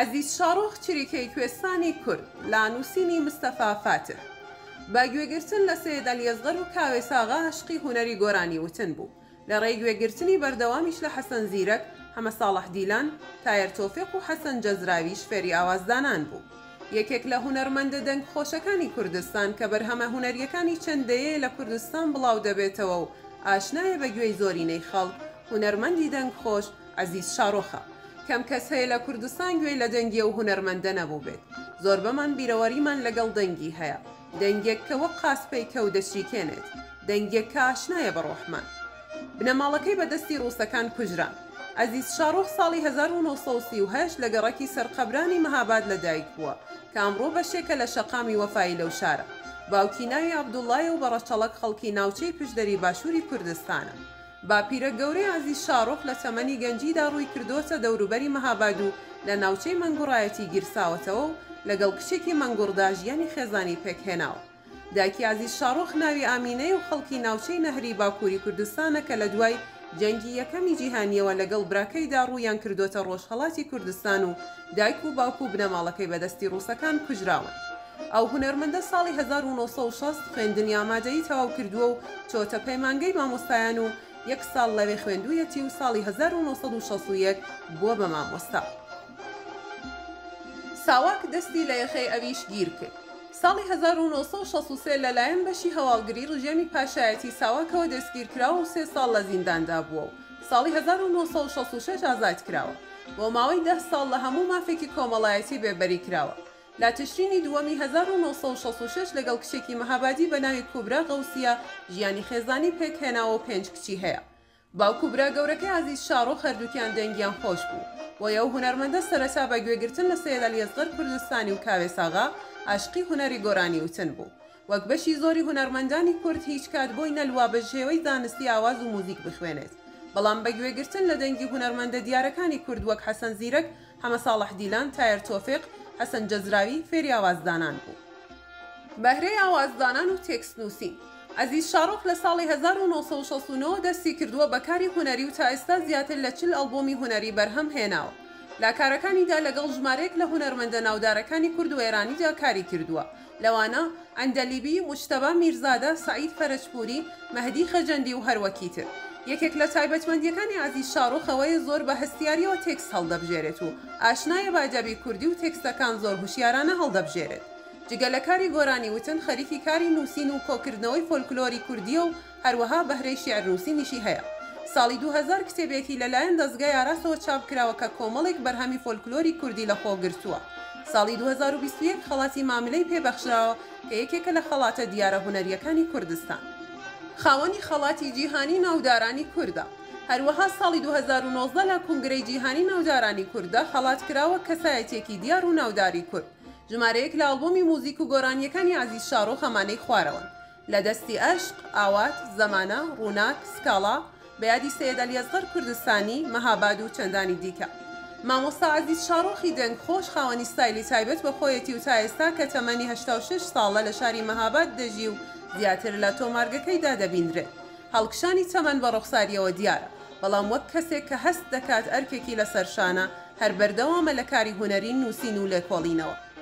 عەزیز شاڕۆخ چریکەی کوێستانی کورد لە نووسینی مستەفا فاتیح بە گوێگرتن لە سەید عەلی ئەسغەر و کاوێساغا عەشقی هونەری گۆرانی وتن بوو، لە ڕێی گوێگرتنی بەردەوامیش لە حەسەن زیرەک، حەمە ساڵح دیلان، تایەر تۆفیق و حەسەن جەزراویش فێری ئاوازدانان بوو. یەکێک لە هونەرمەندە دەنگ خۆشەکانی کوردستان کە بەرهەمە هونەریەکانی چەند دەیەیە لە کوردستان بڵاو دەبێتەوە و ئاشنایە بە گوێی زۆرینەی خەڵک، هونەرمەندی دەنگ خۆش، عەزیز شارۆخە. کەم کەس هەیە لە کوردستان گوێی لە دەنگی ئەو هونەرمەندە نەبووبێت. زۆربەمان بیرەوەریمان لەگەڵ دەنگی هەیە. دەنگێک کە وەک قاز پەیکە و دەچریکێنێت. دەنگێک کە ئاشنایە بە ڕۆحمان. بنەماڵەکەی بە دەستی ڕووسەکان کوژران. عەزیز شارۆخ ساڵی هەزار و نۆ سەد و سی و هەشت لە گەڕەکی سەرقەبرانی مەهاباد لە دایک بووە کە ئەمڕۆ بەشێکە لە شەقامی وەفایی لەو شارە. باوکی ناوی عەبدوڵڵایە و بە ڕەچەڵەک خەڵکی ناوچەی پشدەری باشووری کوردستانە. باپیرە گەورەی عەزیز شاڕۆخ لە تەمەنی گەنجیدا ڕووی کردۆتە دەوروبەری مەهاباد و لە ناوچەی مەنگوڕایەتی گیرساوەتەوە و لەگەڵ کچێکی مەنگوڕدا ژیانی خێزانی پێکهێناوە. دایکی عەزیز شاڕۆخ ناوی ئامینەیە و خەڵکی ناوچەی نەهری باکووری کوردستانە کە لە دوای جەنگی یەکەمی جیهانییەوە لەگەڵ براکەیدا ڕوویان کردۆتە ڕۆژهەڵاتی کوردستان و دایک و باوک و بنەماڵەکەی بەدەستی ڕووسەکان کوژراون. ئەو هونەرمەندە ساڵی هەزار و نۆ سەد و شەست خوێندنی ئامادەیی تەواو کردووە و چۆتە پەیمانگەی مامۆستایان و یەک ساڵ لەوێ خوێندوویەتی و ساڵی هەزار و نۆ سەد و شەست و یەک بووە بە مامۆستا. ساواک دەستی لە یەخەی ئەویش گیر کرد. ساڵی هەزار و نۆ سەد و شەست و سێ لەلایەن بەشی هەواڵگری ڕژێمی پاشایەتی ساواکەوە دەستگیر کراوە و سێ ساڵ لە زینداندا بووە و ساڵی هەزار و نۆ سەد و شەست و شەش ئازاد کراوە. بۆ ماوەی دە ساڵ لە هەموو مافێکی کۆمەڵایەتی بێبەری کراوە. لە تشرینی دووەمی هەزار و نۆ سەد و شەست و شەش لەگەڵ کچێکی مەهابادی بە ناوی کوبرا غەوسیە ژیانی خێزانی پێک هێناوەو پێنج کچی هەیە باوک و برا گەورەکەی عەزیز شاڕۆخ هەردووکیان دەنگیان خۆش بوو بۆیە ئەو هونەرمەندە سەرەتا بە گوێگرتن لە سەید عەلی ئەسغەر کوردستانی و کاوێس ئاغا ئاشقی هونەری گۆرانی وتن بوو وەک بەشی زۆری هونەرمەندانی کورد هیچ کات بۆی نەلوا بە شێوەی زانستی ئاواز و موزیک بخوێنێت بەڵام بە گوێ گرتن لە دەنگی هونەرمەندە دیارەکانی کورد وەک حەسەن زیرەک، حەمە ساڵح دیلان، تایەر تۆفیق، حەسەن جەزراوی فێری ئاواز دانان بوو. بەهرەی ئاواز دانان و تێکست نووسین. عەزیز شاڕۆخ لە ساڵی هەزار و نۆ سەد و شەست و نۆ دەستی کردووە بە کاری هونەری و تا ئێستا زیاتر لە چل ئەڵبۆمی هونەری بەرهەم هێناوە لا کارەکانیدا لەگەڵ ژمارەیەک لە هونەرمەندە ناودارەکانی کورد و ئێرانیدا کاری کردووە لەوانە، عەندەلیبی، موجتەبا میرزادە، سەعید فەرەجپووری، مەهدی خەجەندی و هەروەکی تر. یەکێک لە تایبەتمەندییەکانی عەزیز شاڕوخ ئەوەیە زۆر بە هەستیارییەوە تێکست هەڵدەبژێرێت و ئاشنایە بە ئەدەبی کوردی و تێکستەکان زۆر هوشیارانە هەڵدەبژێرێت. جگە لە کاری گۆرانی وتن، خەریکی کاری نووسین و کۆکردنەوەی فۆلکلۆری کوردییە و هەروەها بەهرەی شیعرنووسینیشی هەیە. ساڵی دوو هەزار کتێبێکی لە لایەن دەزگای ئاراسەوە چاپ کراوە کە کۆمەڵێک بەرهەمی فۆلکلۆری کوردی لە خۆ گرتووە. ساڵی دوو هەزار و بیست و یەک خەڵاتی ماملێی پێ بەخشراوە کە یەکێکە لە خەڵاتە دیارە هونەرییەکانی کوردستان. خاوەنی خەڵاتی جیهانی ناودارانی کوردە. هەروەها ساڵی دوو هەزار و نۆزدە لە کونگرەی جیهانی ناودارانی کورددا خەڵات کرا وەک کەسایەتییەکی دیار و ناوداری کورد. ژمارەیەک لە ئەڵبۆمی موزیک و گۆرانییەکانی عەزیز شاڕۆ خەمانەی خوارەوەن. لە دەستی ئەشق، ئاوات، زەمانە، ڕووناک، سکاڵا، بە یادی سەیەد عەلی ئەسغەر کوردستانی، مەهاباد و چەندانی دیکە. مامۆستا عەزیز شاڕۆخی دەنگ خۆش خاوەنی ستایلی تایبەت بە خۆیەتی و تا ئێستا کە تەمەنی هەشتا و شەش ساڵە لە شاری مەهاباد دەژی و زیاتر لە تۆمارگەکەیدا دەبینرێت هەڵکشانی تەمەن بە ڕوخساریەوە دیارە بەڵام وەک کەسێک کە هەست دەکات ئەرکێکی لەسەر شانە هەر بەردەوامە لە کاری هونەری نووسین و لێکۆڵینەوە.